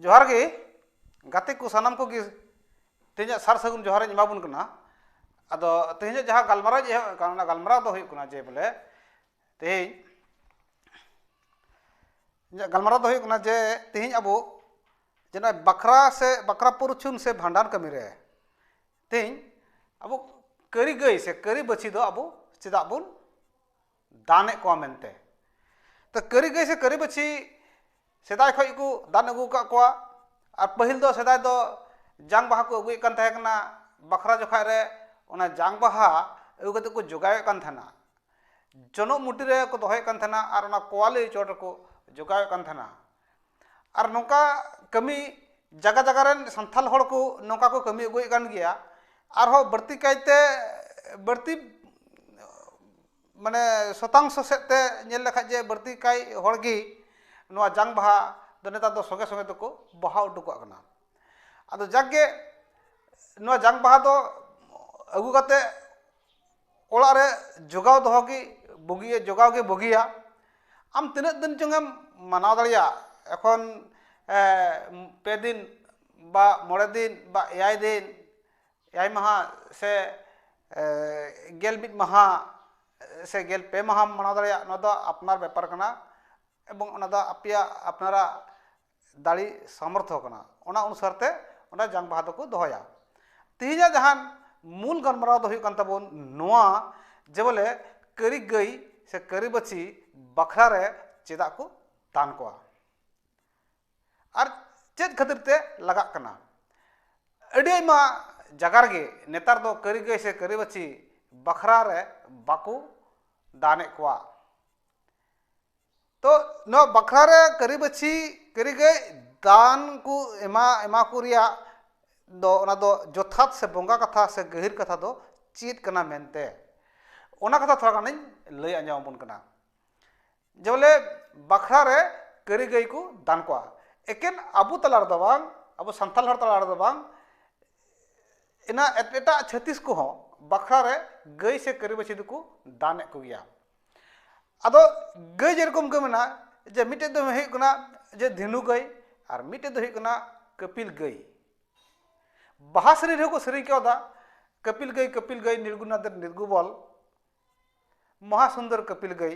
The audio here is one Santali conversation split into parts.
ᱡᱚᱦᱟᱨ ᱜᱮ ᱜᱟᱛᱮ ᱠᱚ ᱥᱟᱱᱟᱢ ᱠᱚᱜᱮ ᱛᱮᱦᱮᱧᱟᱜ ᱥᱟᱨ ᱥᱟᱹᱜᱩᱱ ᱡᱚᱦᱟᱨᱤᱧ ᱮᱢᱟᱵᱚᱱ ᱠᱟᱱᱟ ᱟᱫᱚ ᱛᱮᱦᱮᱧᱟᱜ ᱡᱟᱦᱟᱸ ᱜᱟᱞᱢᱟᱨᱟᱣ ᱮᱦᱚᱵ ᱟᱠᱟᱱ ᱚᱱᱟ ᱜᱟᱞᱢᱟᱨᱟᱣ ᱫᱚ ᱦᱩᱭᱩᱜ ᱠᱟᱱᱟ ᱡᱮ ᱵᱚᱞᱮ ᱛᱮᱦᱮᱧ ᱤᱧᱟᱹᱜ ᱜᱟᱞᱢᱟᱨᱟᱣ ᱫᱚ ᱦᱩᱭᱩᱜ ᱠᱟᱱᱟ ᱡᱮ ᱛᱮᱦᱮᱧ ᱟᱵᱚ ᱡᱮ ᱱᱚᱜᱼᱚᱭ ᱵᱟᱠᱷᱨᱟ ᱥᱮ ᱵᱟᱠᱷᱨᱟ ᱯᱚᱨᱪᱷᱩᱱ ᱥᱮ ᱵᱷᱟᱸᱰᱟᱱ ᱠᱟᱹᱢᱤ ᱨᱮ ᱛᱮᱦᱮᱧ ᱟᱵᱚ ᱠᱟᱹᱨᱤ ᱜᱟᱹᱭ ᱥᱮ ᱠᱟᱹᱨᱤ ᱵᱟᱹᱪᱷᱤ ᱫᱚ ᱟᱵᱚ ᱪᱮᱫᱟᱜ ᱵᱚᱱ ᱫᱟᱱᱮᱫ ᱠᱚᱣᱟ ᱢᱮᱱᱛᱮ ᱛᱚ ᱠᱟᱹᱨᱤ ᱜᱟᱹᱭ ᱥᱮ ᱠᱟᱹᱨᱤ ᱵᱟᱹᱪᱷᱤ ᱥᱮᱫᱟᱭ ᱠᱷᱚᱱ ᱜᱮᱠᱚ ᱫᱟᱱ ᱟᱹᱜᱩ ᱟᱠᱟᱫ ᱠᱚᱣᱟ ᱟᱨ ᱯᱟᱹᱦᱤᱞ ᱫᱚ ᱥᱮᱫᱟᱭ ᱫᱚ ᱡᱟᱝ ᱵᱟᱦᱟ ᱠᱚ ᱟᱹᱜᱩᱭᱮᱫ ᱠᱟᱱ ᱛᱟᱦᱮᱸ ᱠᱟᱱᱟ ᱵᱟᱠᱷᱨᱟ ᱡᱚᱠᱷᱚᱱ ᱨᱮ ᱚᱱᱟ ᱡᱟᱝ ᱵᱟᱦᱟ ᱟᱹᱜᱩ ᱠᱟᱛᱮᱫ ᱠᱚ ᱡᱳᱜᱟᱭᱮᱫ ᱠᱟᱱ ᱛᱟᱦᱮᱱᱟ ᱡᱚᱱᱚᱜ ᱢᱩᱴᱤ ᱨᱮᱠᱚ ᱫᱚᱦᱚᱭᱮᱫ ᱠᱟᱱ ᱛᱟᱦᱮᱱᱟ ᱟᱨ ᱚᱱᱟ ᱠᱚᱣᱟᱞᱤ ᱪᱚᱴ ᱨᱮᱠᱚ ᱡᱳᱜᱟᱣᱮᱫ ᱠᱟᱱ ᱛᱟᱦᱮᱱᱟ ᱟᱨ ᱱᱚᱝᱠᱟ ᱠᱟᱹᱢᱤ ᱡᱟᱭᱜᱟ ᱡᱟᱭᱜᱟ ᱨᱮᱱ ᱥᱟᱱᱛᱟᱲ ᱦᱚᱲ ᱠᱚ ᱱᱚᱝᱠᱟ ᱠᱚ ᱠᱟᱹᱢᱤ ᱟᱹᱜᱩᱭᱮᱫ ᱠᱟᱱ ᱜᱮᱭᱟ ᱟᱨᱦᱚᱸ ᱵᱟᱹᱲᱛᱤ ᱠᱟᱭᱛᱮ ᱵᱟᱹᱲᱛᱤ ᱢᱟᱱᱮ ᱥᱚᱛᱟᱝᱥᱚ ᱥᱮᱫ ᱛᱮ ᱧᱮᱞ ᱞᱮᱠᱷᱟᱡ ᱡᱮ ᱵᱟᱹᱲᱛᱤ ᱠᱟᱭ ᱦᱚᱲ ᱜᱮ ᱱᱚᱣᱟ ᱡᱟᱝ ᱵᱟᱦᱟ ᱫᱚ ᱱᱮᱛᱟᱨ ᱫᱚ ᱥᱚᱸᱜᱮ ᱥᱚᱸᱜᱮ ᱛᱮᱠᱚ ᱵᱟᱦᱟ ᱦᱚᱴᱚ ᱠᱟᱜ ᱠᱟᱱᱟ ᱟᱫᱚ ᱡᱟᱠᱜᱮ ᱱᱚᱣᱟ ᱡᱟᱝ ᱵᱟᱦᱟ ᱫᱚ ᱟᱹᱜᱩ ᱠᱟᱛᱮᱫ ᱚᱲᱟᱜ ᱨᱮ ᱡᱚᱜᱟᱣ ᱫᱚᱦᱚ ᱜᱮ ᱵᱩᱜᱤᱭᱟ ᱡᱚᱜᱟᱣ ᱜᱮ ᱵᱩᱜᱤᱭᱟ ᱟᱢ ᱛᱤᱱᱟᱹᱜ ᱫᱤᱱ ᱪᱚᱝ ᱮᱢ ᱢᱟᱱᱟᱣ ᱫᱟᱲᱮᱭᱟᱜ ᱮᱠᱷᱚᱱ ᱯᱮ ᱫᱤᱱ ᱵᱟ ᱢᱚᱬᱮ ᱫᱤᱱ ᱵᱟ ᱮᱭᱟᱭ ᱫᱤᱱ ᱮᱭᱟᱭ ᱢᱟᱦᱟ ᱥᱮ ᱜᱮᱞ ᱢᱤᱫ ᱢᱟᱦᱟ ᱥᱮ ᱜᱮᱞ ᱯᱮ ᱢᱟᱦᱟᱢ ᱢᱟᱱᱟᱣ ᱫᱟᱲᱮᱭᱟᱜ ᱱᱚᱣᱟ ᱫᱚ ᱟᱯᱱᱟᱨ ᱵᱮᱯᱟᱨ ᱠᱟᱱᱟ ᱮᱵᱚᱝ ᱚᱱᱟ ᱫᱚ ᱟᱯᱮᱭᱟᱜ ᱟᱯᱱᱟᱨᱟᱜ ᱫᱟᱲᱮ ᱥᱟᱢᱚᱨᱛᱷᱚ ᱠᱟᱱᱟ ᱚᱱᱟ ᱚᱱᱩᱥᱟᱨ ᱛᱮ ᱚᱱᱟ ᱡᱟᱝ ᱵᱟᱦᱟ ᱫᱚᱠᱚ ᱫᱚᱦᱚᱭᱟ ᱛᱮᱦᱮᱧᱟᱜ ᱡᱟᱦᱟᱸ ᱢᱩᱞ ᱜᱟᱞᱢᱟᱨᱟᱣ ᱫᱚ ᱦᱩᱭᱩᱜ ᱠᱟᱱ ᱛᱟᱵᱚᱱ ᱱᱚᱣᱟ ᱡᱮ ᱵᱚᱞᱮ ᱠᱟᱹᱨᱤ ᱜᱟᱹᱭ ᱥᱮ ᱠᱟᱹᱨᱤ ᱵᱟᱹᱪᱷᱤ ᱵᱟᱠᱷᱨᱟ ᱨᱮ ᱪᱮᱫᱟᱜ ᱠᱚ ᱫᱟᱱ ᱠᱚᱣᱟ ᱟᱨ ᱪᱮᱫ ᱠᱷᱟᱹᱛᱤᱨ ᱛᱮ ᱞᱟᱜᱟᱜ ᱠᱟᱱᱟ ᱟᱹᱰᱤ ᱟᱭᱢᱟ ᱡᱟᱭᱜᱟ ᱨᱮᱜᱮ ᱱᱮᱛᱟᱨ ᱫᱚ ᱠᱟᱹᱨᱤ ᱜᱟᱹᱭ ᱥᱮ ᱠᱟᱹᱨᱤ ᱵᱟᱹᱪᱷᱤ ᱵᱟᱠᱷᱨᱟ ᱨᱮ ᱵᱟᱠᱚ ᱫᱟᱱᱮᱫ ᱠᱚᱣᱟ ᱛᱚ ᱱᱚᱣᱟ ᱵᱟᱠᱷᱨᱟ ᱨᱮ ᱠᱟᱹᱨᱤ ᱵᱟᱹᱪᱷᱤ ᱠᱟᱹᱨᱤ ᱜᱟᱹᱭ ᱫᱟᱱ ᱠᱚ ᱮᱢᱟ ᱮᱢᱟ ᱠᱚ ᱨᱮᱭᱟᱜ ᱫᱚ ᱚᱱᱟ ᱫᱚ ᱡᱚᱛᱷᱟᱛ ᱥᱮ ᱵᱚᱸᱜᱟ ᱠᱟᱛᱷᱟ ᱥᱮ ᱜᱟᱹᱦᱤᱨ ᱠᱟᱛᱷᱟ ᱫᱚ ᱪᱮᱫ ᱠᱟᱱᱟ ᱢᱮᱱᱛᱮ ᱚᱱᱟ ᱠᱟᱛᱷᱟ ᱛᱷᱚᱲᱟ ᱜᱟᱱᱤᱧ ᱞᱟᱹᱭ ᱟᱸᱡᱚᱢ ᱟᱵᱚᱱ ᱠᱟᱱᱟ ᱡᱮ ᱵᱚᱞᱮ ᱵᱟᱠᱷᱨᱟ ᱨᱮ ᱠᱟᱹᱨᱤ ᱜᱟᱹᱭ ᱠᱚ ᱫᱟᱱ ᱠᱚᱣᱟ ᱮᱠᱮᱱ ᱟᱵᱚ ᱛᱟᱞᱟ ᱨᱮᱫᱚ ᱵᱟᱝ ᱟᱵᱚ ᱥᱟᱱᱛᱟᱲ ᱦᱚᱲ ᱛᱟᱞᱟ ᱨᱮᱫᱚ ᱵᱟᱝ ᱮᱱᱟ ᱮᱴᱟᱜ ᱪᱷᱟᱹᱛᱤᱥ ᱠᱚᱦᱚᱸ ᱵᱟᱠᱷᱨᱟ ᱨᱮ ᱜᱟᱹᱭ ᱥᱮ ᱠᱟᱹᱨᱤ ᱵᱟᱹᱪᱷᱤ ᱫᱚᱠᱚ ᱫᱟᱱᱮᱜ ᱠᱚᱜᱮᱭᱟ ᱟᱫᱚ ᱜᱟᱹᱭ ᱡᱮᱨᱚᱠᱚᱢ ᱜᱮ ᱢᱮᱱᱟᱜᱼᱟ ᱡᱮ ᱢᱤᱫᱴᱮᱡ ᱫᱚ ᱦᱩᱭᱩᱜ ᱠᱟᱱᱟ ᱡᱮ ᱫᱷᱮᱱᱩ ᱜᱟᱹᱭ ᱟᱨ ᱢᱤᱫᱴᱮᱡ ᱫᱚ ᱦᱩᱭᱩᱜ ᱠᱟᱱᱟ ᱠᱟᱹᱯᱤᱞ ᱜᱟᱹᱭ ᱵᱟᱦᱟ ᱥᱮᱨᱮᱧ ᱨᱮᱦᱚᱸ ᱠᱚ ᱥᱮᱨᱮᱧ ᱠᱟᱣᱫᱟ ᱠᱟᱹᱯᱤᱞ ᱜᱟᱹᱭ ᱠᱟᱹᱯᱤᱞ ᱜᱟᱹᱭ ᱱᱤᱨᱜᱩᱱᱟᱫᱮᱨ ᱱᱤᱨᱜᱩᱵᱚᱞ ᱢᱚᱦᱟ ᱥᱩᱱᱫᱚᱨ ᱠᱟᱹᱯᱤᱞ ᱜᱟᱹᱭ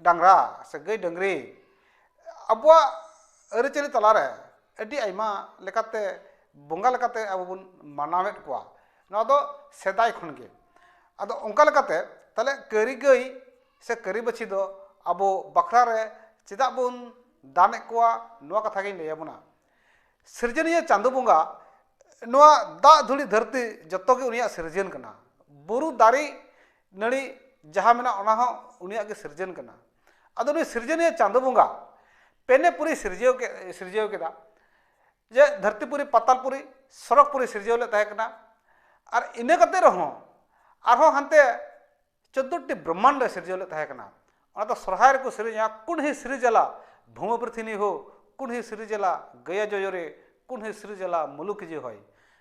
ᱰᱟᱝᱨᱟ ᱥᱮ ᱜᱟᱹᱭ ᱰᱟᱹᱝᱨᱤ ᱟᱵᱚᱣᱟᱜ ᱟᱹᱨᱤᱪᱟᱹᱞᱤ ᱛᱟᱞᱟᱨᱮ ᱟᱹᱰᱤ ᱟᱭᱢᱟ ᱞᱮᱠᱟᱛᱮ ᱵᱚᱸᱜᱟ ᱞᱮᱠᱟᱛᱮ ᱟᱵᱚ ᱵᱚᱱ ᱢᱟᱱᱟᱣᱮᱫ ᱠᱚᱣᱟ ᱱᱚᱣᱟ ᱫᱚ ᱥᱮᱫᱟᱭ ᱠᱷᱚᱱᱜᱮ ᱟᱫᱚ ᱚᱱᱠᱟ ᱞᱮᱠᱟᱛᱮ ᱛᱟᱦᱚᱞᱮ ᱠᱟᱹᱨᱤ ᱜᱟᱹᱭ ᱥᱮ ᱠᱟᱹᱨᱤ ᱵᱟᱹᱪᱷᱤ ᱫᱚ ᱟᱵᱚ ᱵᱟᱠᱷᱨᱟ ᱨᱮ ᱪᱮᱫᱟᱜ ᱵᱚᱱ ᱫᱟᱱ ᱮᱜ ᱠᱚᱣᱟ ᱱᱚᱣᱟ ᱠᱟᱛᱷᱟ ᱜᱤᱧ ᱞᱟᱹᱭ ᱟᱵᱚᱱᱟ ᱥᱤᱨᱡᱚᱱᱤᱭᱟᱹ ᱪᱟᱸᱫᱳ ᱵᱚᱸᱜᱟ ᱱᱚᱣᱟ ᱫᱟᱜ ᱫᱷᱩᱲᱤ ᱫᱷᱟᱹᱨᱛᱤ ᱡᱚᱛᱚᱜᱮ ᱩᱱᱤᱭᱟᱜ ᱥᱤᱨᱡᱚᱱ ᱠᱟᱱᱟ ᱵᱩᱨᱩ ᱫᱟᱨᱮ ᱱᱟᱹᱲᱤ ᱡᱟᱦᱟᱸ ᱢᱮᱱᱟᱜ ᱚᱱᱟ ᱦᱚᱸ ᱩᱱᱤᱭᱟᱜ ᱜᱮ ᱥᱤᱨᱡᱚᱱ ᱠᱟᱱᱟ ᱟᱫᱚ ᱩᱱᱤ ᱥᱤᱨᱡᱚᱱᱤᱭᱟᱹ ᱪᱟᱸᱫᱚ ᱵᱚᱸᱜᱟ ᱯᱮᱱᱮᱯᱩᱨᱤ ᱥᱤᱨᱡᱟᱹᱣ ᱠᱮᱫ ᱥᱤᱨᱡᱟᱹᱣ ᱠᱮᱫᱟ ᱡᱮ ᱫᱷᱟᱹᱨᱛᱤᱯᱩᱨᱤ ᱯᱟᱛᱟᱞᱯᱩᱨᱤ ᱥᱚᱨᱚᱜᱽᱯᱩᱨᱤ ᱥᱤᱨᱡᱟᱹᱣ ᱞᱮᱫ ᱛᱟᱦᱮᱸ ᱠᱟᱱᱟ ᱟᱨ ᱤᱱᱟᱹ ᱠᱟᱛᱮ ᱨᱮᱦᱚᱸ ᱟᱨᱦᱚᱸ ᱦᱟᱱᱛᱮ ᱪᱳᱫᱫᱳᱴᱤ ᱵᱨᱚᱦᱢᱟᱱᱰᱚᱭ ᱥᱤᱨᱡᱟᱹᱣ ᱞᱮᱫ ᱛᱟᱦᱮᱸ ᱠᱟᱱᱟ ᱚᱱᱟ ᱫᱚ ᱥᱚᱨᱦᱟᱭ ᱨᱮᱠᱚ ᱥᱮᱨᱮᱧᱟ ᱠᱩᱱᱦᱤ ᱥᱨᱤᱡᱟᱞᱟ ᱵᱷᱩᱢᱟ ᱯᱨᱤᱛᱷᱤᱱᱤ ᱦᱳ ᱠᱩᱱᱦᱤ ᱥᱨᱤᱡᱟᱞᱟ ᱜᱟᱹᱭᱟ ᱡᱚᱭᱚᱨᱮ ᱠᱩᱱᱦᱤ ᱥᱨᱤᱡᱟᱞᱟ ᱢᱩᱞᱩᱠᱤ ᱡᱮ ᱦᱚᱭ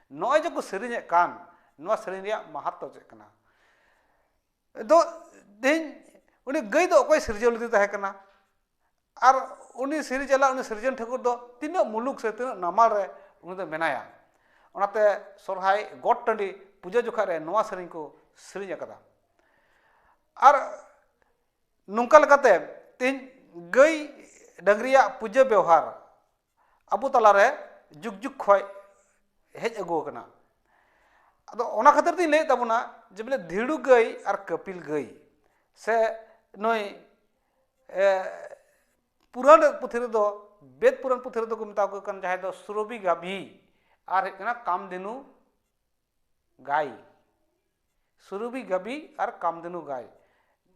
ᱱᱚᱜᱼᱚᱭ ᱡᱮᱠᱚ ᱥᱮᱨᱮᱧᱮᱫ ᱠᱟᱱ ᱱᱚᱣᱟ ᱥᱮᱨᱮᱧ ᱨᱮᱭᱟᱜ ᱢᱟᱦᱟᱛᱛᱚ ᱪᱮᱫ ᱠᱟᱱᱟ ᱫᱚ ᱛᱮᱦᱮᱧ ᱩᱱᱤ ᱜᱟᱹᱭ ᱫᱚ ᱚᱠᱚᱭ ᱥᱤᱨᱡᱟᱹᱣ ᱞᱮᱫᱮ ᱛᱟᱦᱮᱸ ᱠᱟᱱᱟ ᱟᱨ ᱩᱱᱤ ᱥᱨᱤᱡᱟᱞᱟ ᱩᱱᱤ ᱥᱤᱨᱡᱚᱱ ᱴᱷᱟᱹᱠᱩᱨ ᱫᱚ ᱛᱤᱱᱟᱹᱜ ᱢᱩᱞᱩᱠ ᱥᱮ ᱛᱤᱱᱟᱹᱜ ᱱᱟᱢᱟᱞ ᱨᱮ ᱩᱱᱤ ᱫᱚ ᱢᱮᱱᱟᱭᱟ ᱚᱱᱟᱛᱮ ᱥᱚᱨᱦᱟᱭ ᱜᱚᱴ ᱴᱟᱺᱰᱤ ᱯᱩᱡᱟᱹ ᱡᱚᱠᱷᱟᱡ ᱨᱮ ᱱᱚᱣᱟ ᱥᱮᱨᱮᱧ ᱠᱚ ᱥᱮᱨᱮᱧ ᱟᱠᱟᱫᱟ ᱟᱨ ᱱᱚᱝᱠᱟ ᱞᱮᱠᱟᱛᱮ ᱛᱮᱦᱮᱧ ᱜᱟᱹᱭ ᱰᱟᱹᱝᱨᱤᱭᱟᱜ ᱯᱩᱡᱟᱹ ᱵᱮᱣᱦᱟᱨ ᱟᱵᱚ ᱛᱟᱞᱟᱨᱮ ᱡᱩᱜᱽ ᱡᱩᱜᱽ ᱠᱷᱚᱡ ᱦᱮᱡ ᱟᱹᱜᱩ ᱟᱠᱟᱱᱟ ᱟᱫᱚ ᱚᱱᱟ ᱠᱷᱟᱹᱛᱤᱨ ᱛᱤᱧ ᱞᱟᱹᱭᱮᱫ ᱛᱟᱵᱚᱱᱟ ᱡᱮ ᱵᱚᱞᱮ ᱫᱷᱤᱲᱩ ᱜᱟᱹᱭ ᱟᱨ ᱠᱟᱹᱯᱤᱞ ᱜᱟᱹᱭ ᱥᱮ ᱱᱩᱭ ᱯᱩᱨᱟᱹᱱ ᱯᱩᱛᱷᱤ ᱨᱮᱫᱚ ᱵᱮᱫ ᱯᱩᱨᱟᱹᱱ ᱯᱩᱛᱷᱤ ᱨᱮᱫᱚ ᱠᱚ ᱢᱮᱛᱟ ᱠᱚ ᱠᱟᱱ ᱡᱟᱦᱟᱸᱭ ᱫᱚ ᱥᱩᱨᱚᱵᱷᱤ ᱜᱟᱵᱷᱤ ᱟᱨ ᱦᱩᱭᱩᱜ ᱠᱟᱱᱟ ᱠᱟᱢᱫᱮᱱᱩ ᱜᱟᱭ ᱥᱩᱨᱩᱵᱤ ᱜᱟᱵᱤ ᱟᱨ ᱠᱟᱢᱫᱷᱮᱱᱩ ᱜᱟᱭ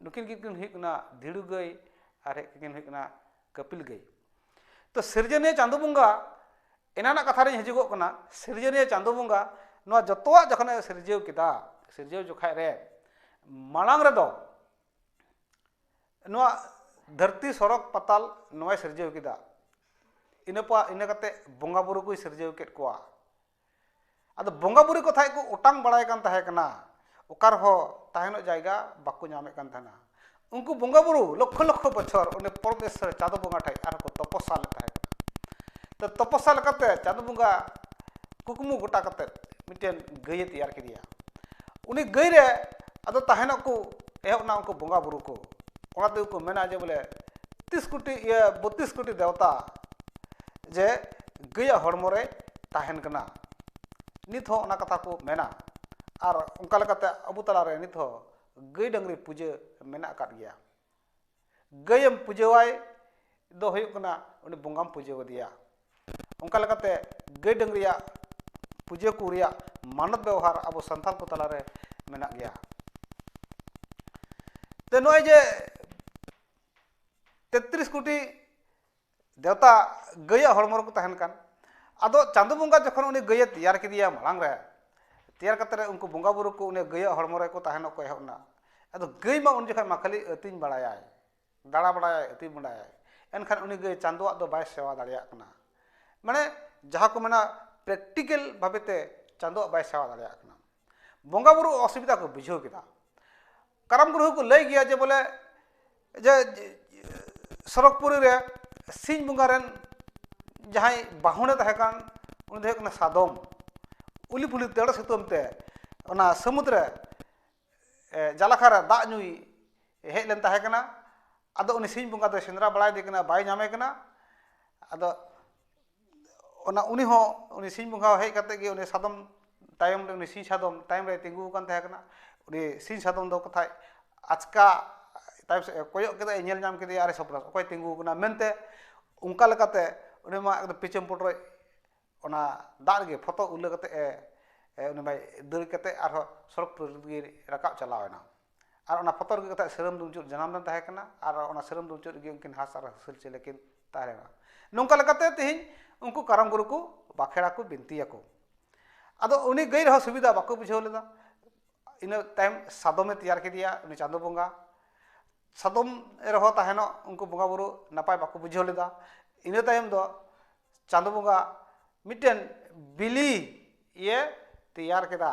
ᱱᱩᱠᱤᱱ ᱜᱮᱠᱤᱱ ᱦᱩᱭᱩᱜ ᱠᱟᱱᱟ ᱫᱷᱤᱲᱩ ᱜᱟᱹᱭ ᱟᱨ ᱦᱮᱡ ᱠᱤᱱ ᱦᱩᱭᱩᱜ ᱠᱟᱱᱟ ᱠᱟᱹᱯᱤᱞ ᱜᱟᱹᱭ ᱛᱚ ᱥᱤᱨᱡᱚᱱᱤᱭᱟᱹ ᱪᱟᱸᱫᱳ ᱵᱚᱸᱜᱟ ᱮᱱᱟᱱᱟᱜ ᱠᱟᱛᱷᱟ ᱨᱤᱧ ᱦᱤᱡᱩᱜᱚᱜ ᱠᱟᱱᱟ ᱥᱤᱨᱡᱚᱱᱤᱭᱟᱹ ᱪᱟᱸᱫᱳ ᱵᱚᱸᱜᱟ ᱱᱚᱣᱟ ᱡᱚᱛᱚᱣᱟᱜ ᱡᱚᱠᱷᱚᱱᱮ ᱥᱤᱨᱡᱟᱹᱣ ᱠᱮᱫᱟ ᱥᱤᱨᱡᱟᱹᱣ ᱡᱚᱠᱷᱟᱡ ᱨᱮ ᱢᱟᱲᱟᱝ ᱨᱮᱫᱚ ᱱᱚᱣᱟ ᱫᱷᱟᱹᱨᱛᱤ ᱥᱚᱨᱚᱜᱽ ᱯᱟᱛᱟᱞ ᱱᱚᱣᱟᱭ ᱥᱤᱨᱡᱟᱹᱣ ᱠᱮᱫᱟ ᱤᱱᱟᱹ ᱯᱚᱨ ᱤᱱᱟᱹ ᱠᱟᱛᱮ ᱵᱚᱸᱜᱟ ᱵᱩᱨᱩ ᱠᱚᱭ ᱥᱤᱨᱡᱟᱹᱣ ᱠᱮᱫ ᱠᱚᱣᱟ ᱟᱫᱚ ᱵᱚᱸᱜᱟ ᱵᱩᱨᱩ ᱠᱚ ᱛᱟᱦᱮᱸᱫ ᱠᱚ ᱚᱴᱟᱝ ᱵᱟᱲᱟᱭ ᱠᱟᱱ ᱛᱟᱦᱮᱸ ᱠᱟᱱᱟ ᱚᱠᱟ ᱨᱮᱦᱚᱸ ᱛᱟᱦᱮᱸ ᱨᱮᱱᱟᱜ ᱡᱟᱭᱜᱟ ᱵᱟᱠᱚ ᱧᱟᱢᱮᱫ ᱠᱟᱱ ᱛᱟᱦᱮᱱᱟ ᱩᱱᱠᱩ ᱵᱚᱸᱜᱟ ᱵᱩᱨᱩ ᱞᱚᱠᱠᱷᱚ ᱞᱚᱠᱠᱷᱚ ᱵᱚᱪᱷᱚᱨ ᱩᱱᱤ ᱯᱚᱨᱢᱮᱥᱥᱚᱨ ᱪᱟᱸᱫᱚ ᱵᱚᱸᱜᱟ ᱴᱷᱮᱡ ᱟᱨᱦᱚᱸ ᱠᱚ ᱛᱚᱯᱚᱥᱟ ᱞᱮᱫ ᱛᱟᱦᱮᱸ ᱠᱟᱱᱟ ᱛᱚ ᱛᱚᱯᱚᱥᱟ ᱞᱮᱠᱟᱛᱮ ᱪᱟᱸᱫᱚ ᱵᱚᱸᱜᱟ ᱠᱩᱠᱢᱩ ᱜᱚᱴᱟ ᱠᱟᱛᱮᱫ ᱢᱤᱫᱴᱮᱱ ᱜᱟᱹᱭᱮ ᱛᱮᱭᱟᱨ ᱠᱮᱫᱮᱭᱟ ᱩᱱᱤ ᱜᱟᱹᱭ ᱨᱮ ᱟᱫᱚ ᱛᱟᱦᱮᱱᱚᱜ ᱠᱚ ᱮᱦᱚᱵ ᱮᱱᱟ ᱩᱱᱠᱩ ᱵᱚᱸᱜᱟ ᱵᱩᱨᱩ ᱠᱚ ᱚᱱᱟ ᱛᱮᱜᱮ ᱠᱚ ᱢᱮᱱᱟ ᱡᱮ ᱵᱚᱞᱮ ᱛᱤᱥ ᱠᱳᱴᱤ ᱤᱭᱟᱹ ᱵᱚᱛᱤᱥ ᱠᱳᱴᱤ ᱫᱮᱣᱛᱟ ᱡᱮ ᱜᱟᱹᱭᱟᱜ ᱦᱚᱲᱢᱚ ᱨᱮ ᱛᱟᱦᱮᱱ ᱠᱟᱱᱟ ᱱᱤᱛ ᱦᱚᱸ ᱚᱱᱟ ᱠᱟᱛᱷᱟ ᱠᱚ ᱢᱮᱱᱟ ᱟᱨ ᱚᱱᱠᱟ ᱞᱮᱠᱟᱛᱮ ᱟᱵᱚ ᱛᱟᱞᱟᱨᱮ ᱱᱤᱛ ᱦᱚᱸ ᱜᱟᱹᱭ ᱰᱟᱹᱝᱨᱤ ᱯᱩᱡᱟᱹ ᱢᱮᱱᱟᱜ ᱟᱠᱟᱫ ᱜᱮᱭᱟ ᱜᱟᱹᱭᱮᱢ ᱯᱩᱡᱟᱹᱣᱟᱭ ᱫᱚ ᱦᱩᱭᱩᱜ ᱠᱟᱱᱟ ᱩᱱᱤ ᱵᱚᱸᱜᱟᱢ ᱯᱩᱡᱟᱹ ᱟᱫᱮᱭᱟ ᱚᱱᱠᱟ ᱞᱮᱠᱟᱛᱮ ᱜᱟᱹᱭ ᱰᱟᱹᱝᱨᱤᱭᱟᱜ ᱯᱩᱡᱟᱹ ᱠᱚ ᱨᱮᱭᱟᱜ ᱢᱟᱱᱚᱛ ᱵᱮᱣᱦᱟᱨ ᱟᱵᱚ ᱥᱟᱱᱛᱟᱲ ᱠᱚ ᱛᱟᱞᱟᱨᱮ ᱢᱮᱱᱟᱜ ᱜᱮᱭᱟ ᱛᱚ ᱱᱚᱜᱼᱚᱭ ᱡᱮ ᱛᱮᱛᱨᱤᱥ ᱠᱳᱴᱤ ᱫᱮᱣᱛᱟ ᱜᱟᱹᱭᱟᱜ ᱦᱚᱲᱢᱚ ᱨᱮᱠᱚ ᱛᱟᱦᱮᱱ ᱠᱟᱱ ᱟᱫᱚ ᱪᱟᱸᱫᱚ ᱵᱚᱸᱜᱟ ᱡᱚᱠᱷᱚᱱ ᱩᱱᱤ ᱜᱟᱹᱭᱮ ᱛᱮᱭᱟᱨ ᱠᱮᱫᱮᱭᱟ ᱢᱟᱲᱟᱝ ᱨᱮ ᱛᱮᱭᱟᱨ ᱠᱟᱛᱮ ᱩᱱᱠᱩ ᱵᱚᱸᱜᱟ ᱵᱩᱨᱩ ᱠᱚ ᱩᱱᱤ ᱜᱟᱹᱭᱟᱜ ᱦᱚᱲᱢᱚ ᱨᱮᱠᱚ ᱛᱟᱦᱮᱱᱚᱜ ᱠᱚ ᱮᱦᱚᱵ ᱮᱱᱟ ᱟᱫᱚ ᱜᱟᱹᱭ ᱢᱟ ᱩᱱ ᱡᱚᱠᱷᱚᱱ ᱢᱟ ᱠᱷᱟᱹᱞᱤ ᱟᱹᱛᱤᱧ ᱵᱟᱲᱟᱭᱟᱭ ᱫᱟᱬᱟ ᱵᱟᱲᱟᱭᱟᱭ ᱟᱹᱛᱤᱧ ᱵᱟᱲᱟᱭᱟᱭ ᱮᱱᱠᱷᱟᱱ ᱩᱱᱤ ᱜᱟᱹᱭ ᱪᱟᱸᱫᱚᱣᱟᱜ ᱫᱚ ᱵᱟᱭ ᱥᱮᱵᱟ ᱫᱟᱲᱮᱭᱟᱜ ᱠᱟᱱᱟ ᱢᱟᱱᱮ ᱡᱟᱦᱟᱸ ᱠᱚ ᱢᱮᱱᱟ ᱯᱨᱮᱠᱴᱤᱠᱮᱞ ᱵᱷᱟᱵᱮᱛᱮ ᱪᱟᱸᱫᱚᱣᱟᱜ ᱵᱟᱭ ᱥᱮᱵᱟ ᱫᱟᱲᱮᱭᱟᱜ ᱠᱟᱱᱟ ᱵᱚᱸᱜᱟ ᱵᱩᱨᱩ ᱚᱥᱩᱵᱤᱫᱷᱟ ᱠᱚ ᱵᱩᱡᱷᱟᱹᱣ ᱠᱮᱫᱟ ᱠᱟᱨᱟᱢ ᱜᱩᱨᱩ ᱦᱚᱸᱠᱚ ᱞᱟᱹᱭ ᱜᱮᱭᱟ ᱡᱮ ᱵᱚᱞᱮ ᱡᱮ ᱥᱚᱨᱚᱜᱽᱯᱩᱨᱤ ᱨᱮ ᱥᱤᱧ ᱵᱚᱸᱜᱟ ᱨᱮᱱ ᱡᱟᱦᱟᱸᱭ ᱵᱟᱦᱚᱲᱮ ᱛᱟᱦᱮᱸ ᱠᱟᱱ ᱩᱱᱤ ᱫᱚ ᱦᱩᱭᱩᱜ ᱠᱟᱱᱟ ᱥᱟᱫᱚᱢ ᱩᱞᱤ ᱯᱷᱩᱞᱤ ᱫᱟᱹᱲ ᱥᱩᱛᱟᱹᱢ ᱛᱮ ᱚᱱᱟ ᱥᱟᱹᱢᱩᱫᱽ ᱨᱮ ᱡᱟᱞᱟᱠᱟᱨ ᱨᱮ ᱫᱟᱜ ᱧᱩᱭ ᱦᱮᱡ ᱞᱮᱱ ᱛᱟᱦᱮᱸ ᱠᱟᱱᱟ ᱟᱫᱚ ᱩᱱᱤ ᱥᱤᱧ ᱵᱚᱸᱜᱟ ᱫᱚᱭ ᱥᱮᱸᱫᱽᱨᱟ ᱵᱟᱲᱟᱭᱮᱫᱮ ᱠᱟᱱᱟ ᱵᱟᱭ ᱧᱟᱢᱮ ᱠᱟᱱᱟ ᱟᱫᱚ ᱚᱱᱟ ᱩᱱᱤ ᱦᱚᱸ ᱩᱱᱤ ᱥᱤᱧ ᱵᱚᱸᱜᱟ ᱦᱮᱡ ᱠᱟᱛᱮᱫ ᱜᱮ ᱩᱱᱤ ᱥᱟᱫᱚᱢ ᱛᱟᱭᱚᱢ ᱨᱮ ᱩᱱᱤ ᱥᱤᱧ ᱥᱟᱫᱚᱢ ᱛᱟᱭᱚᱢ ᱨᱮ ᱛᱤᱸᱜᱩ ᱟᱠᱟᱱ ᱛᱟᱦᱮᱸ ᱠᱟᱱᱟ ᱩᱱᱤ ᱥᱤᱧ ᱥᱟᱫᱚᱢ ᱫᱚ ᱠᱟᱛᱷᱟᱡ ᱟᱪᱠᱟ ᱛᱟᱭᱚᱢ ᱥᱮᱫ ᱮ ᱠᱚᱭᱚᱜ ᱠᱮᱫᱟᱭ ᱧᱮᱞ ᱧᱟᱢ ᱠᱮᱫᱮᱭᱟᱭ ᱟᱨᱮ ᱥᱟᱯᱲᱟᱣ ᱮᱱᱟ ᱚᱠᱚᱭ ᱛᱤᱸᱜᱩ ᱟᱠᱟᱱᱟ ᱢᱮᱱᱛᱮ ᱚᱱᱠᱟ ᱞᱮᱠᱟᱛᱮ ᱩᱱᱤ ᱢᱟ ᱮᱠᱫᱚᱢ ᱯᱤᱪᱷᱟᱹ ᱯᱚᱴᱚᱡ ᱚᱱᱟ ᱫᱟᱜ ᱨᱮᱜᱮ ᱯᱷᱚᱛᱚ ᱩᱞᱟᱹ ᱠᱟᱛᱮᱫ ᱮ ᱩᱱᱤ ᱢᱟᱭ ᱫᱟᱹᱲ ᱠᱟᱛᱮᱫ ᱟᱨᱦᱚᱸ ᱥᱚᱲᱚᱠ ᱯᱩᱨᱤ ᱨᱮᱜᱮ ᱨᱟᱠᱟᱵ ᱪᱟᱞᱟᱣ ᱮᱱᱟ ᱟᱨ ᱚᱱᱟ ᱯᱚᱛᱚᱵ ᱨᱮᱜᱮ ᱛᱟᱦᱮᱸᱫ ᱥᱤᱨᱟᱹᱢ ᱫᱩᱱᱫᱩᱵ ᱡᱟᱱᱟᱢ ᱫᱚ ᱛᱟᱦᱮᱸ ᱠᱟᱱᱟ ᱟᱨ ᱚᱱᱟ ᱥᱤᱨᱟᱹᱢ ᱫᱩᱱᱫᱩᱵ ᱨᱮᱜᱮ ᱩᱱᱠᱤᱱ ᱦᱟᱸᱥ ᱟᱨ ᱦᱟᱹᱥᱤᱞ ᱪᱮᱬᱮ ᱠᱤᱱ ᱛᱟᱦᱮᱸ ᱞᱮᱱᱟ ᱱᱚᱝᱠᱟ ᱞᱮᱠᱟᱛᱮ ᱛᱮᱦᱮᱧ ᱩᱱᱠᱩ ᱠᱟᱨᱟᱢ ᱜᱩᱨᱩ ᱠᱚ ᱵᱟᱸᱠᱷᱮᱲ ᱟᱠᱚ ᱵᱤᱱᱛᱤ ᱟᱠᱚ ᱟᱫᱚ ᱩᱱᱤ ᱜᱟᱹᱭ ᱨᱮᱦᱚᱸ ᱥᱩᱵᱤᱫᱷᱟ ᱵᱟᱠᱚ ᱵᱩᱡᱷᱟᱹᱣ ᱞᱮᱫᱟ ᱤᱱᱟᱹ ᱛᱟᱭᱚᱢ ᱥᱟᱫᱚᱢᱮ ᱛᱮᱭᱟᱨ ᱠᱮᱫᱮᱭᱟ ᱩᱱᱤ ᱪᱟᱸᱫᱳ ᱵᱚᱸᱜᱟ ᱥᱟᱫᱚᱢ ᱨᱮᱦᱚᱸ ᱛᱟᱦᱮᱱᱚᱜ ᱩᱱᱠᱩ ᱵᱚᱸᱜᱟ ᱵᱩᱨᱩ ᱱᱟᱯᱟᱭ ᱵᱟᱠᱚ ᱵᱩᱡᱷᱟᱹᱣ ᱞᱮᱫᱟ ᱤᱱᱟᱹ ᱛᱟᱭᱚᱢ ᱫᱚ ᱪᱟᱸᱫᱳ ᱵᱚᱸᱜᱟ ᱢᱤᱫᱴᱮᱱ ᱵᱤᱞᱤ ᱤᱭᱟᱹ ᱛᱮᱭᱟᱨ ᱠᱮᱫᱟ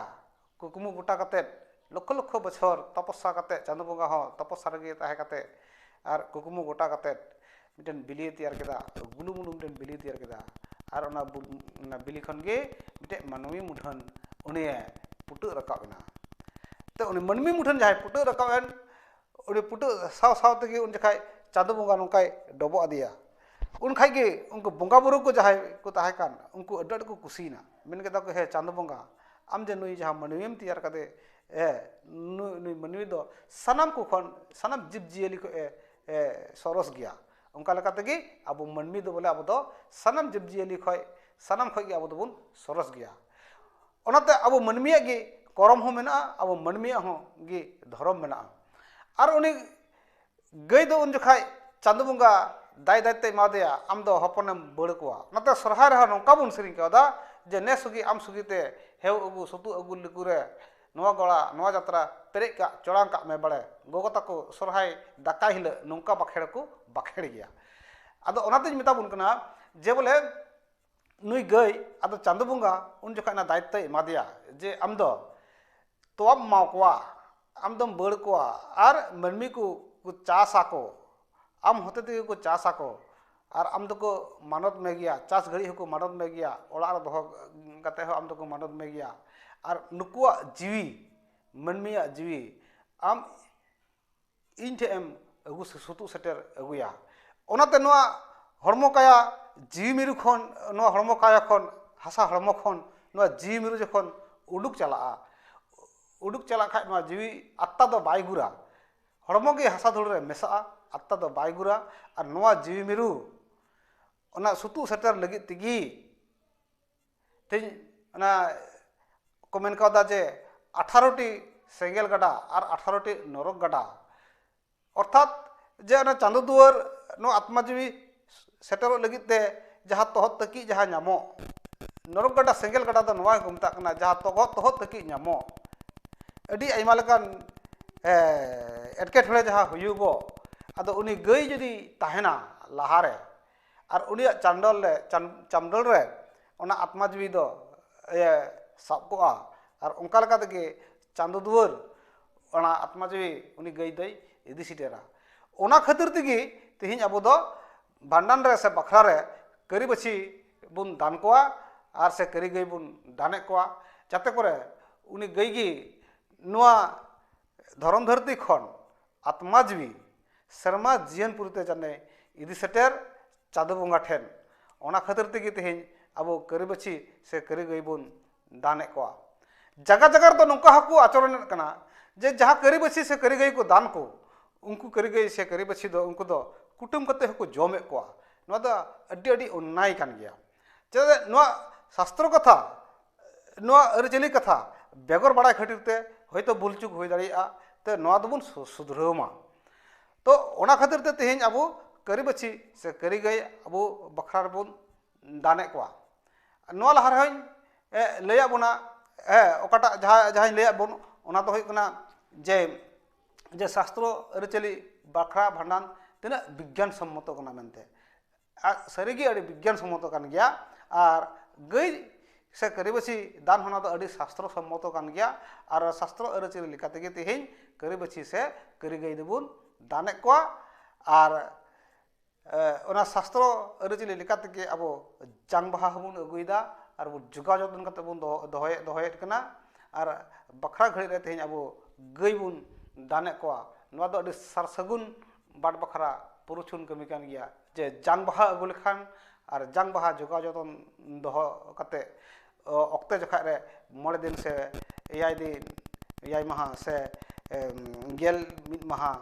ᱠᱩᱠᱢᱩ ᱜᱚᱴᱟ ᱠᱟᱛᱮ ᱞᱚᱠᱠᱷᱚ ᱞᱚᱠᱠᱷᱚ ᱵᱚᱪᱷᱚᱨ ᱛᱚᱯᱚᱥᱥᱟ ᱠᱟᱛᱮ ᱪᱟᱸᱫᱚ ᱵᱚᱸᱜᱟ ᱦᱚᱸ ᱛᱚᱯᱚᱥᱥᱟ ᱨᱮᱜᱮ ᱛᱟᱦᱮᱸ ᱠᱟᱛᱮ ᱟᱨ ᱠᱩᱠᱢᱩ ᱜᱚᱴᱟ ᱠᱟᱛᱮ ᱢᱤᱫᱴᱮᱱ ᱵᱤᱞᱤᱭ ᱛᱮᱭᱟᱨ ᱠᱮᱫᱟ ᱜᱩᱞᱩ ᱢᱩᱞᱩ ᱢᱤᱫᱴᱮᱱ ᱵᱤᱞᱤᱭ ᱛᱮᱭᱟᱨ ᱠᱮᱫᱟ ᱟᱨ ᱚᱱᱟ ᱵᱤᱞᱤ ᱠᱷᱚᱱ ᱜᱮ ᱢᱤᱫᱴᱮᱱ ᱢᱟᱹᱱᱢᱤ ᱢᱩᱴᱷᱟᱹᱱ ᱩᱱᱤᱭᱮ ᱯᱷᱩᱴᱟᱹᱜ ᱨᱟᱠᱟᱵ ᱮᱱᱟ ᱛᱚ ᱩᱱᱤ ᱢᱟᱹᱱᱢᱤ ᱢᱩᱴᱷᱟᱹᱱ ᱡᱟᱦᱟᱸᱭ ᱯᱷᱩᱴᱟᱹᱜ ᱨᱟᱠᱟᱵ ᱮᱱ ᱩᱱᱤ ᱯᱷᱩᱴᱟᱹᱜ ᱥᱟᱶ ᱥᱟᱶ ᱛᱮᱜᱮ ᱩᱱ ᱡᱚᱠᱷᱟᱡ ᱪᱟᱸᱫᱚ ᱵᱚᱸᱜᱟ ᱱᱚᱝᱠᱟᱭ ᱰᱚᱵᱚᱜ ᱟᱫᱮᱭᱟ ᱩᱱ ᱠᱷᱟᱡ ᱜᱮ ᱩᱱᱠᱩ ᱵᱚᱸᱜᱟ ᱵᱳᱨᱳ ᱠᱚ ᱡᱟᱦᱟᱸᱭ ᱠᱚ ᱛᱟᱦᱮᱸ ᱠᱟᱱ ᱩᱱᱠᱩ ᱟᱹᱰᱤ ᱟᱸᱴ ᱠᱚ ᱠᱩᱥᱤᱭᱮᱱᱟ ᱢᱮᱱ ᱠᱮᱫᱟ ᱠᱚ ᱦᱮ ᱪᱟᱸᱫᱚ ᱵᱚᱸᱜᱟ ᱟᱢ ᱡᱮ ᱱᱩᱭ ᱡᱟᱦᱟᱸ ᱢᱟᱹᱱᱢᱤᱢ ᱛᱮᱭᱟᱨ ᱠᱟᱫᱮ ᱮ ᱱᱩᱭ ᱢᱟᱹᱱᱢᱤ ᱫᱚ ᱥᱟᱱᱟᱢ ᱠᱚ ᱠᱷᱚᱱ ᱥᱟᱱᱟᱢ ᱡᱤᱵᱽ ᱡᱤᱭᱟᱹᱞᱤ ᱠᱷᱚᱡ ᱮ ᱥᱚᱨᱚᱥ ᱜᱮᱭᱟ ᱚᱱᱠᱟ ᱞᱮᱠᱟ ᱛᱮᱜᱮ ᱟᱵᱚ ᱢᱟᱹᱱᱢᱤ ᱫᱚ ᱵᱚᱞᱮ ᱟᱵᱚ ᱫᱚ ᱥᱟᱱᱟᱢ ᱡᱤᱵᱽ ᱡᱤᱭᱟᱹᱞᱤ ᱠᱷᱚᱡ ᱥᱟᱱᱟᱢ ᱠᱷᱚᱡ ᱜᱮ ᱟᱵᱚ ᱫᱚᱵᱚᱱ ᱥᱚᱨᱚᱥ ᱜᱮᱭᱟ ᱚᱱᱟᱛᱮ ᱟᱵᱚ ᱢᱟᱹᱱᱢᱤᱭᱟᱜ ᱜᱮ ᱠᱚᱨᱚᱢ ᱦᱚᱸ ᱢᱮᱱᱟᱜᱼᱟ ᱟᱵᱚ ᱢᱟᱹᱱᱢᱤᱭᱟᱜ ᱦᱚᱸ ᱜᱮ ᱫᱷᱚᱨᱚᱢ ᱢᱮᱱᱟᱜᱼᱟ ᱟᱨ ᱩᱱᱤ ᱜᱟᱹᱭ ᱫᱚ ᱩᱱ ᱡᱚᱠᱷᱟᱡ ᱪᱟᱸᱫᱚ ᱵᱚᱸᱜᱟ ᱫᱟᱭ ᱫᱟᱭ ᱛᱮᱭ ᱮᱢᱟ ᱫᱮᱭᱟ ᱟᱢ ᱫᱚ ᱦᱚᱯᱚᱱᱮᱢ ᱵᱟᱹᱲ ᱠᱚᱣᱟ ᱚᱱᱟᱛᱮ ᱥᱚᱨᱦᱟᱭ ᱨᱮᱦᱚᱸ ᱱᱚᱝᱠᱟ ᱵᱚᱱ ᱥᱮᱨᱮᱧ ᱠᱟᱣᱫᱟ ᱡᱮ ᱱᱮ ᱥᱩᱜᱤ ᱟᱢ ᱥᱩᱜᱤ ᱛᱮ ᱦᱮᱣ ᱟᱹᱜᱩ ᱥᱩᱛᱩᱜ ᱟᱹᱜᱩ ᱞᱤᱠᱩ ᱨᱮ ᱱᱚᱣᱟ ᱜᱚᱲᱟ ᱱᱚᱣᱟ ᱡᱟᱛᱨᱟ ᱯᱮᱨᱮᱡ ᱠᱟᱜ ᱪᱚᱲᱟᱝ ᱠᱟᱜ ᱢᱮ ᱵᱟᱲᱮ ᱜᱚᱜᱚ ᱛᱟᱠᱚ ᱥᱚᱨᱦᱟᱭ ᱫᱟᱠᱟᱭ ᱦᱤᱞᱟᱹᱜ ᱱᱚᱝᱠᱟ ᱵᱟᱠᱷᱮᱲ ᱠᱚ ᱵᱟᱠᱷᱮᱲ ᱜᱮᱭᱟ ᱟᱫᱚ ᱚᱱᱟᱛᱤᱧ ᱢᱮᱛᱟ ᱵᱚᱱ ᱠᱟᱱᱟ ᱡᱮ ᱵᱚᱞᱮ ᱱᱩᱭ ᱜᱟᱹᱭ ᱟᱫᱚ ᱪᱟᱸᱫᱚ ᱵᱚᱸᱜᱟ ᱩᱱ ᱡᱚᱠᱷᱟᱡ ᱚᱱᱟ ᱫᱟᱭᱤᱛᱛᱚᱭ ᱮᱢᱟᱫᱮᱭᱟ ᱡᱮ ᱟᱢ ᱫᱚ ᱛᱚᱣᱟᱢ ᱮᱢᱟ ᱠᱚᱣᱟ ᱟᱢ ᱫᱚᱢ ᱵᱟᱹᱲ ᱠᱚᱣᱟ ᱟᱨ ᱢᱟᱹᱱᱢᱤ ᱠᱚ ᱪᱟᱥ ᱟᱠᱚ ᱟᱢ ᱦᱚᱛᱮ ᱛᱮᱜᱮ ᱠᱚ ᱪᱟᱥ ᱟᱠᱚ ᱟᱨ ᱟᱢ ᱫᱚᱠᱚ ᱢᱟᱱᱚᱛ ᱢᱮᱜᱮᱭᱟ ᱪᱟᱥ ᱜᱷᱟᱹᱲᱤᱡ ᱦᱚᱸᱠᱚ ᱢᱟᱱᱚᱛ ᱢᱮᱜᱮᱭᱟ ᱚᱲᱟᱜ ᱨᱮ ᱫᱚᱦᱚ ᱠᱟᱛᱮ ᱦᱚᱸ ᱟᱢ ᱫᱚᱠᱚ ᱢᱟᱱᱚᱛ ᱢᱮᱜᱮᱭᱟ ᱟᱨ ᱱᱩᱠᱩᱣᱟᱜ ᱡᱤᱣᱤ ᱢᱟᱹᱱᱢᱤᱭᱟᱜ ᱡᱤᱣᱤ ᱟᱢ ᱤᱧ ᱴᱷᱮᱱ ᱮᱢ ᱟᱹᱜᱩ ᱥᱩᱛᱩᱜ ᱥᱮᱴᱮᱨ ᱟᱹᱜᱩᱭᱟ ᱚᱱᱟᱛᱮ ᱱᱚᱣᱟ ᱦᱚᱲᱢᱚ ᱠᱟᱭᱟ ᱡᱤᱣᱤ ᱢᱤᱨᱩ ᱠᱷᱚᱱ ᱱᱚᱣᱟ ᱦᱚᱲᱢᱚ ᱠᱟᱭᱟ ᱠᱷᱚᱱ ᱦᱟᱥᱟ ᱦᱚᱲᱢᱚ ᱠᱷᱚᱱ ᱱᱚᱣᱟ ᱡᱤᱣᱤ ᱢᱤᱨᱩ ᱡᱚᱠᱷᱚᱱ ᱩᱰᱩᱠ ᱪᱟᱞᱟᱜᱼᱟ ᱩᱰᱩᱠ ᱪᱟᱞᱟᱜ ᱠᱷᱟᱱ ᱱᱚᱣᱟ ᱡᱤᱣᱤ ᱟᱛᱢᱟ ᱫᱚ ᱵᱟᱭ ᱜᱩᱨᱟ ᱦᱚᱲᱢᱚ ᱜᱮ ᱦᱟᱥᱟ ᱫᱷᱩᱲᱤ ᱨᱮ ᱢᱮᱥᱟᱜᱼᱟ ᱟᱛᱢᱟ ᱫᱚ ᱵᱟᱭ ᱜᱩᱨᱟ ᱟᱨ ᱱᱚᱣᱟ ᱡᱤᱣᱤ ᱢᱤᱨᱩ ᱚᱱᱟ ᱥᱩᱛᱩᱜ ᱥᱮᱴᱮᱨ ᱞᱟᱹᱜᱤᱫ ᱛᱮᱜᱮ ᱛᱮᱦᱮᱧ ᱚᱱᱟ ᱠᱚ ᱢᱮᱱ ᱠᱟᱣᱫᱟ ᱡᱮ ᱟᱴᱷᱟᱨᱚᱴᱤ ᱥᱮᱸᱜᱮᱞ ᱜᱟᱰᱟ ᱟᱨ ᱟᱴᱷᱟᱨᱚᱴᱤ ᱱᱚᱨᱚᱠ ᱜᱟᱰᱟ ᱚᱨᱛᱷᱟᱛ ᱡᱮ ᱚᱱᱟ ᱪᱟᱸᱫᱚ ᱫᱩᱣᱟᱹᱨ ᱱᱚᱣᱟ ᱟᱛᱢᱟ ᱡᱤᱣᱤ ᱥᱮᱴᱮᱨᱚᱜ ᱞᱟᱹᱜᱤᱫ ᱛᱮ ᱡᱟᱦᱟᱸ ᱛᱚᱦᱚᱫ ᱛᱟᱹᱠᱤᱡ ᱡᱟᱦᱟᱸ ᱧᱟᱢᱚᱜ ᱱᱚᱨᱚᱠ ᱜᱟᱰᱟ ᱥᱮᱸᱜᱮᱞ ᱜᱟᱰᱟ ᱫᱚ ᱱᱚᱣᱟ ᱜᱮᱠᱚ ᱢᱮᱛᱟᱜ ᱠᱟᱱᱟ ᱡᱟᱦᱟᱸ ᱛᱚᱦᱚᱫ ᱛᱚᱦᱚᱫ ᱛᱟᱹᱠᱤᱡ ᱧᱟᱢᱚᱜ ᱟᱹᱰᱤ ᱟᱭᱢᱟ ᱞᱮᱠᱟᱱ ᱮᱸᱴᱠᱮᱴᱚᱬᱮ ᱡᱟᱦᱟᱸ ᱦᱩᱭᱩᱜᱚᱜ ᱟᱫᱚ ᱩᱱᱤ ᱜᱟᱹᱭ ᱡᱩᱫᱤ ᱛᱟᱦᱮᱱᱟ ᱞᱟᱦᱟᱨᱮ ᱟᱨ ᱩᱱᱤᱭᱟᱜ ᱪᱟᱱᱰᱚᱞ ᱨᱮ ᱪᱟᱢᱰᱚᱞ ᱨᱮ ᱚᱱᱟ ᱟᱛᱢᱟ ᱡᱤᱣᱤ ᱫᱚ ᱮ ᱥᱟᱵ ᱠᱚᱜᱼᱟ ᱟᱨ ᱚᱱᱠᱟ ᱞᱮᱠᱟ ᱛᱮᱜᱮ ᱪᱟᱸᱫᱚ ᱫᱩᱣᱟᱹᱨ ᱚᱱᱟ ᱟᱛᱢᱟ ᱡᱤᱣᱤ ᱩᱱᱤ ᱜᱟᱹᱭ ᱫᱚᱭ ᱤᱫᱤ ᱥᱮᱴᱮᱨᱟ ᱚᱱᱟ ᱠᱷᱟᱹᱛᱤᱨ ᱛᱮᱜᱮ ᱛᱮᱦᱮᱧ ᱟᱵᱚ ᱫᱚ ᱵᱷᱟᱸᱰᱟᱱ ᱨᱮ ᱥᱮ ᱵᱟᱠᱷᱨᱟ ᱨᱮ ᱠᱟᱹᱨᱤ ᱵᱟᱹᱪᱷᱤ ᱵᱚᱱ ᱫᱟᱱ ᱠᱚᱣᱟ ᱟᱨ ᱥᱮ ᱠᱟᱹᱨᱤ ᱜᱟᱹᱭ ᱵᱚᱱ ᱫᱟᱱᱮᱜ ᱠᱚᱣᱟ ᱡᱟᱛᱮ ᱠᱚᱨᱮ ᱩᱱᱤ ᱜᱟᱹᱭ ᱜᱮ ᱱᱚᱣᱟ ᱫᱷᱚᱨᱚᱢ ᱫᱷᱟᱹᱨᱛᱤ ᱠᱷᱚᱱ ᱟᱛᱢᱟ ᱡᱤᱣᱤ ᱥᱮᱨᱢᱟ ᱡᱤᱭᱚᱱ ᱯᱩᱨᱤ ᱛᱮ ᱡᱮᱱᱮ ᱤᱫᱤ ᱥᱮᱴᱮᱨ ᱪᱟᱸᱫᱚ ᱵᱚᱸᱜᱟ ᱴᱷᱮᱱ ᱚᱱᱟ ᱠᱷᱟᱹᱛᱤᱨ ᱛᱮᱜᱮ ᱛᱮᱦᱮᱧ ᱟᱵᱚ ᱠᱟᱹᱨᱤ ᱵᱟᱹᱪᱷᱤ ᱥᱮ ᱠᱟᱹᱨᱤ ᱜᱟᱹᱭ ᱵᱚᱱ ᱫᱟᱱ ᱮᱫ ᱠᱚᱣᱟ ᱡᱟᱭᱜᱟ ᱡᱟᱭᱜᱟ ᱨᱮᱫᱚ ᱱᱚᱝᱠᱟ ᱦᱚᱸᱠᱚ ᱟᱪᱚᱨᱚᱱ ᱮᱫ ᱠᱟᱱᱟ ᱡᱮ ᱡᱟᱦᱟᱸ ᱠᱟᱹᱨᱤ ᱵᱟᱹᱪᱷᱤ ᱥᱮ ᱠᱟᱹᱨᱤ ᱜᱟᱹᱭ ᱠᱚ ᱫᱟᱱ ᱠᱚ ᱩᱱᱠᱩ ᱠᱟᱹᱨᱤ ᱜᱟᱹᱭ ᱥᱮ ᱠᱟᱹᱨᱤ ᱵᱟᱹᱪᱷᱤ ᱫᱚ ᱩᱱᱠᱩ ᱫᱚ ᱠᱩᱴᱟᱹᱢ ᱠᱟᱛᱮ ᱦᱚᱸᱠᱚ ᱡᱚᱢᱮᱫ ᱠᱚᱣᱟ ᱱᱚᱣᱟ ᱫᱚ ᱟᱹᱰᱤ ᱟᱹᱰᱤ ᱚᱱᱱᱟᱭ ᱠᱟᱱ ᱜᱮᱭᱟ ᱪᱮᱫᱟᱜ ᱥᱮ ᱱᱚᱣᱟ ᱥᱟᱥᱛᱨᱚ ᱠᱟᱛᱷᱟ ᱱᱚᱣᱟ ᱟᱹᱨᱤᱪᱟᱹᱞᱤ ᱠᱟᱛᱷᱟ ᱵᱮᱜᱚᱨ ᱵᱟᱲᱟᱭ ᱠᱷᱟᱹᱛᱤᱨ ᱛᱮ ᱦᱚᱭᱛᱳ ᱵᱷᱩᱞ ᱪᱩᱠ ᱦᱩᱭ ᱫᱟᱲᱮᱭᱟᱜᱼᱟ ᱛᱚ ᱱᱚᱣᱟ ᱫᱚᱵᱚᱱ ᱥᱩᱫᱷᱨᱟᱹᱣ ᱢᱟ ᱛᱚ ᱚᱱᱟ ᱠᱷᱟᱹᱛᱤᱨ ᱛᱮ ᱛᱮᱦᱤᱧ ᱟᱵᱚ ᱠᱟᱹᱨᱤ ᱵᱟᱹᱪᱷᱤ ᱥᱮ ᱠᱟᱹᱨᱤ ᱜᱟᱹᱭ ᱟᱵᱚ ᱵᱟᱠᱷᱨᱟ ᱨᱮᱵᱚᱱ ᱫᱟᱱᱮᱜ ᱠᱚᱣᱟ ᱱᱚᱣᱟ ᱞᱟᱦᱟ ᱨᱮᱦᱚᱸᱧ ᱞᱟᱹᱭᱟᱜ ᱵᱚᱱᱟ ᱦᱮᱸ ᱚᱠᱟᱴᱟᱜ ᱡᱟᱦᱟᱸ ᱡᱟᱦᱟᱸᱧ ᱞᱟᱹᱭᱟᱜ ᱵᱚᱱ ᱚᱱᱟ ᱫᱚ ᱦᱩᱭᱩᱜ ᱠᱟᱱᱟ ᱡᱮ ᱡᱮ ᱥᱟᱥᱛᱨᱚ ᱟᱹᱨᱤᱪᱟᱹᱞᱤ ᱵᱟᱠᱷᱨᱟ ᱵᱷᱟᱸᱰᱟᱱ ᱛᱤᱱᱟᱹᱜ ᱵᱤᱜᱽᱜᱟᱱ ᱥᱚᱢᱢᱚᱛᱚ ᱠᱟᱱᱟ ᱢᱮᱱᱛᱮ ᱟᱡ ᱥᱟᱹᱨᱤᱜᱮ ᱟᱹᱰᱤ ᱵᱤᱜᱽᱜᱟᱱ ᱥᱚᱢᱢᱚᱛᱚ ᱠᱟᱱ ᱜᱮᱭᱟ ᱟᱨ ᱜᱟᱹᱭ ᱥᱮ ᱠᱟᱹᱨᱤᱵᱟᱹᱪᱷᱤ ᱫᱟᱱ ᱦᱚᱸ ᱱᱚᱣᱟ ᱫᱚ ᱟᱹᱰᱤ ᱥᱟᱥᱛᱨᱚ ᱥᱚᱢᱢᱚᱛᱚ ᱠᱟᱱ ᱜᱮᱭᱟ ᱟᱨ ᱥᱟᱥᱛᱨᱚ ᱟᱹᱨᱤᱪᱟᱹᱞᱤ ᱞᱮᱠᱟ ᱛᱮᱜᱮ ᱛᱮᱦᱮᱧ ᱠᱟᱹᱨᱤᱵᱟᱹᱪᱷᱤ ᱥᱮ ᱠᱟᱹᱨᱤ ᱜᱟᱹᱭ ᱫᱚᱵᱚᱱ ᱫᱟᱱᱮᱫ ᱠᱚᱣᱟ ᱟᱨ ᱚᱱᱟ ᱥᱟᱥᱛᱨᱚ ᱟᱹᱨᱤᱪᱟᱹᱞᱤ ᱞᱮᱠᱟ ᱛᱮᱜᱮ ᱟᱵᱚ ᱡᱟᱝ ᱵᱟᱦᱟ ᱦᱚᱸᱵᱚᱱ ᱟᱹᱜᱩᱭᱮᱫᱟ ᱟᱨ ᱵᱚᱱ ᱡᱳᱜᱟᱣ ᱡᱚᱛᱚᱱ ᱠᱟᱛᱮᱫ ᱵᱚᱱ ᱫᱚᱦᱚᱭᱮᱫ ᱫᱚᱦᱚᱭᱮᱫ ᱠᱟᱱᱟ ᱟᱨ ᱵᱟᱠᱷᱨᱟ ᱜᱷᱟᱹᱲᱤᱡ ᱨᱮ ᱛᱮᱦᱮᱧ ᱟᱵᱚ ᱜᱟᱹᱭ ᱵᱚᱱ ᱫᱟᱱᱮᱫ ᱠᱚᱣᱟ ᱱᱚᱣᱟ ᱫᱚ ᱟᱹᱰᱤ ᱥᱟᱨ ᱥᱟᱹᱜᱩᱱ ᱵᱟᱴ ᱵᱟᱠᱷᱨᱟ ᱯᱩᱨᱩᱪᱷᱩᱱ ᱠᱟᱹᱢᱤ ᱠᱟᱱ ᱜᱮᱭᱟ ᱡᱮ ᱡᱟᱝ ᱵᱟᱦᱟ ᱟᱹᱜᱩ ᱞᱮᱠᱷᱟᱱ ᱟᱨ ᱡᱟᱝ ᱵᱟᱦᱟ ᱡᱚᱜᱟᱣ ᱡᱚᱛᱚᱱ ᱫᱚᱦᱚ ᱠᱟᱛᱮ ᱚᱠᱛᱮ ᱡᱚᱠᱷᱟᱡ ᱨᱮ ᱢᱚᱬᱮ ᱫᱤᱱ ᱥᱮ ᱮᱭᱟᱭ ᱫᱤᱱ ᱮᱭᱟᱭ ᱢᱟᱦᱟ ᱥᱮ ᱜᱮᱞ ᱢᱤᱫ ᱢᱟᱦᱟ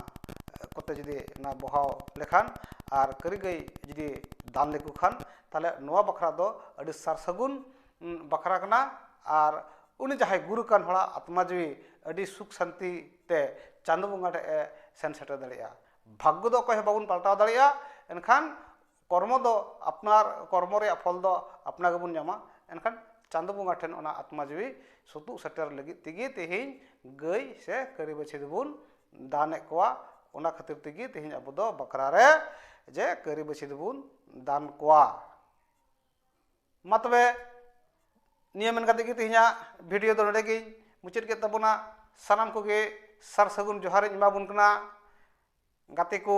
ᱠᱚᱛᱮ ᱡᱩᱫᱤ ᱚᱱᱟ ᱵᱚᱦᱟᱣ ᱞᱮᱠᱷᱟᱱ ᱟᱨ ᱠᱟᱹᱨᱤ ᱜᱟᱹᱭ ᱡᱩᱫᱤ ᱫᱟᱱ ᱞᱮᱠᱚ ᱠᱷᱟᱱ ᱛᱟᱦᱚᱞᱮ ᱱᱚᱣᱟ ᱵᱟᱠᱷᱨᱟ ᱫᱚ ᱟᱹᱰᱤ ᱥᱟᱨ ᱥᱟᱹᱜᱩᱱ ᱵᱟᱠᱷᱨᱟ ᱠᱟᱱᱟ ᱟᱨ ᱩᱱᱤ ᱡᱟᱦᱟᱸᱭ ᱜᱩᱨ ᱟᱠᱟᱱ ᱦᱚᱲᱟᱜ ᱟᱛᱢᱟ ᱡᱤᱣᱤ ᱟᱹᱰᱤ ᱥᱩᱠ ᱥᱟᱱᱛᱤ ᱛᱮ ᱪᱟᱸᱫᱚ ᱵᱚᱸᱜᱟ ᱴᱷᱮᱱ ᱮ ᱥᱮᱱ ᱥᱮᱴᱮᱨ ᱫᱟᱲᱮᱭᱟᱜᱼᱟ ᱵᱷᱟᱜᱽᱜᱚ ᱫᱚ ᱚᱠᱚᱭ ᱦᱚᱸ ᱵᱟᱵᱚᱱ ᱯᱟᱞᱴᱟᱣ ᱫᱟᱲᱮᱭᱟᱜᱼᱟ ᱮᱱᱠᱷᱟᱱ ᱠᱚᱨᱢᱚ ᱫᱚ ᱟᱯᱱᱟᱨ ᱠᱚᱨᱢᱚ ᱨᱮᱭᱟᱜ ᱯᱷᱚᱞ ᱫᱚ ᱟᱯᱱᱟᱨ ᱜᱮᱵᱚᱱ ᱧᱟᱢᱟ ᱮᱱᱠᱷᱟᱱ ᱪᱟᱸᱫᱚ ᱵᱚᱸᱜᱟ ᱴᱷᱮᱱ ᱚᱱᱟ ᱟᱛᱢᱟ ᱡᱤᱣᱤ ᱥᱩᱛᱩᱜ ᱥᱮᱴᱮᱨ ᱞᱟᱹᱜᱤᱫ ᱛᱮᱜᱮ ᱛᱮᱦᱮᱧ ᱜᱟᱹᱭ ᱥᱮ ᱠᱟᱹᱨᱤ ᱵᱟᱹᱪᱷᱤ ᱫᱚᱵᱚᱱ ᱫᱟᱱ ᱮᱫ ᱠᱚᱣᱟ ᱚᱱᱟ ᱠᱷᱟᱹᱛᱤᱨ ᱛᱮᱜᱮ ᱛᱮᱦᱮᱧ ᱟᱵᱚ ᱫᱚ ᱵᱟᱠᱷᱨᱟ ᱨᱮ ᱡᱮ ᱠᱟᱹᱨᱤ ᱵᱟᱹᱪᱷᱤ ᱫᱚᱵᱚᱱ ᱫᱟᱱ ᱠᱚᱣᱟ ᱢᱟ ᱛᱚᱵᱮ ᱱᱤᱭᱟᱹ ᱢᱮᱱ ᱠᱟᱛᱮ ᱜᱮ ᱛᱮᱦᱮᱧᱟᱜ ᱵᱷᱤᱰᱤᱭᱳ ᱫᱚ ᱱᱚᱰᱮ ᱜᱤᱧ ᱢᱩᱪᱟᱹᱫ ᱠᱮᱫ ᱛᱟᱵᱚᱱᱟ ᱥᱟᱱᱟᱢ ᱠᱚᱜᱮ ᱥᱟᱨ ᱥᱟᱹᱜᱩᱱ ᱡᱚᱦᱟᱨᱤᱧ ᱮᱢᱟᱵᱚᱱ ᱠᱟᱱᱟ ᱜᱟᱛᱮ ᱠᱚ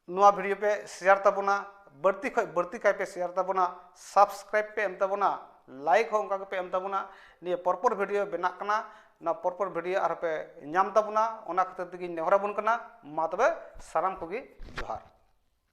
ᱱᱚᱣᱟ ᱵᱷᱤᱰᱤᱭᱳ ᱯᱮ ᱥᱮᱭᱟᱨ ᱛᱟᱵᱚᱱᱟ ᱵᱟᱹᱲᱛᱤ ᱠᱷᱚᱡ ᱵᱟᱹᱲᱛᱤ ᱠᱟᱭ ᱯᱮ ᱥᱮᱭᱟᱨ ᱛᱟᱵᱚᱱᱟ ᱥᱟᱵᱥᱠᱨᱟᱭᱤᱵ ᱯᱮ ᱮᱢ ᱛᱟᱵᱚᱱᱟ ᱞᱟᱭᱤᱠ ᱦᱚᱸ ᱚᱱᱠᱟ ᱜᱮᱯᱮ ᱮᱢ ᱛᱟᱵᱚᱱᱟ ᱱᱤᱭᱟᱹ ᱯᱚᱨᱯᱚᱨ ᱵᱷᱤᱰᱤᱭᱳ ᱵᱮᱱᱟᱜ ᱠᱟᱱᱟ ᱱᱚᱣᱟ ᱯᱚᱨᱯᱚᱨ ᱵᱷᱤᱰᱤᱭᱳ ᱟᱨᱦᱚᱸ ᱯᱮ ᱧᱟᱢ ᱛᱟᱵᱚᱱᱟ ᱚᱱᱟ ᱠᱷᱟᱹᱛᱤᱨ ᱛᱮᱜᱮᱧ ᱱᱮᱦᱚᱨᱟᱵᱚᱱ ᱠᱟᱱᱟ ᱢᱟ ᱛᱚᱵᱮ ᱥᱟᱱᱟᱢ ᱠᱚᱜᱮ ᱡᱚᱦᱟᱨ